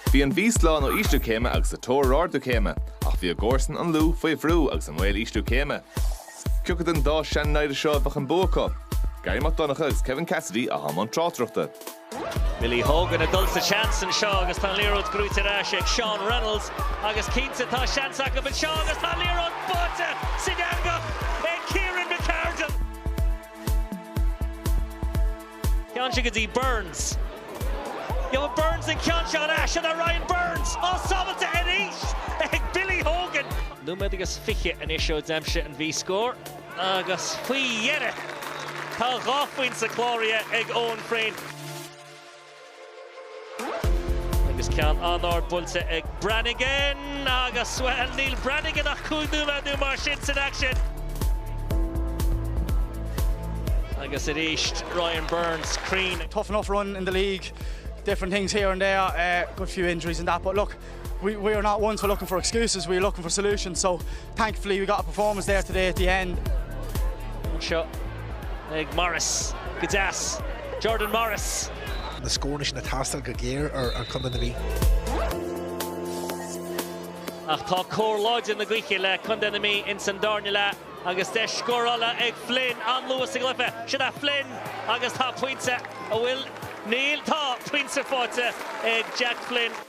Bhí an Mhí slán ó ísliú céime agus sa tóir ar ardú céime, ach bhí a gcomharsain, an Lú, faoi bhrú agus i mbaol ísliú céime. Cioca den dá sean-namhaid seo a mbeadh an bua acu? Garry Mac Donncha agus Kevin Cassidy atá i mbun tráchtaireachta. Billy Hogan ag dul sa seans anseo agus tá an liathróid brúite ar ais ag Seán Reynolds agus cinnte tá seans acu anseo agus tá an liathróid báite san eangach ag Kieran McArdle. Téann sé go dtí Burns. Gheobhaidh Burns an ceann seo ar ais, an é Ryan Burns á sábháilte arís ag Billy Hogan? Nóiméad agus fiche anois ó d'aimsigh an Mhí scór agus faoi dheireadh tá dhá phointe cláraithe ag Eoghan Frayne. Agus ceann an-ard buailte ag Brannigan agus, bhuel, níl Brannigan ach cúig nóiméad nó mar sin san aicsean. Agus arís, Ryan Burns cruinn. Tough enough run in the league, different things here and there, a good few injuries and that but look, We we are not ones for looking for excuses, we are looking for solutions, so thankfully we got a performance there today at the end. Anseo ag Morris go deas, Jordan Morris. na scóranna sin a theastaigh go géar ó Chondae na Mí. Ach tá cóir láidir na gaoithe le Condae na Mí ins an darna leath agus deis scórála ag Flynn an luas ag Luife. Sin é Flynn agus tá pointe a bhfuil, níl, tá pointe faighte ag Jack Flynn.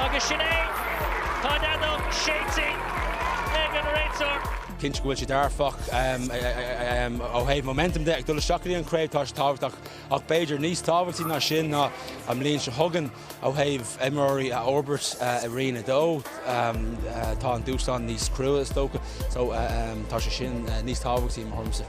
Agus sin é! Tá an fheadóg séidte ag an réiteoir. Cinnte go bhfuil sé dearfach ó thaobh momentum de ag dul isteach go dtí an chraobh, tá sé tábhachtach, ach b'fhéidir níos tábhachtaí ná sin ná an bhliain seo chugainn ó thaobh imreoirí a fhorbairt i Roinn 2. Tá an dúshlán níos crua is dócha, so tá sé sin níos tábhachtaí i mo thuairimse.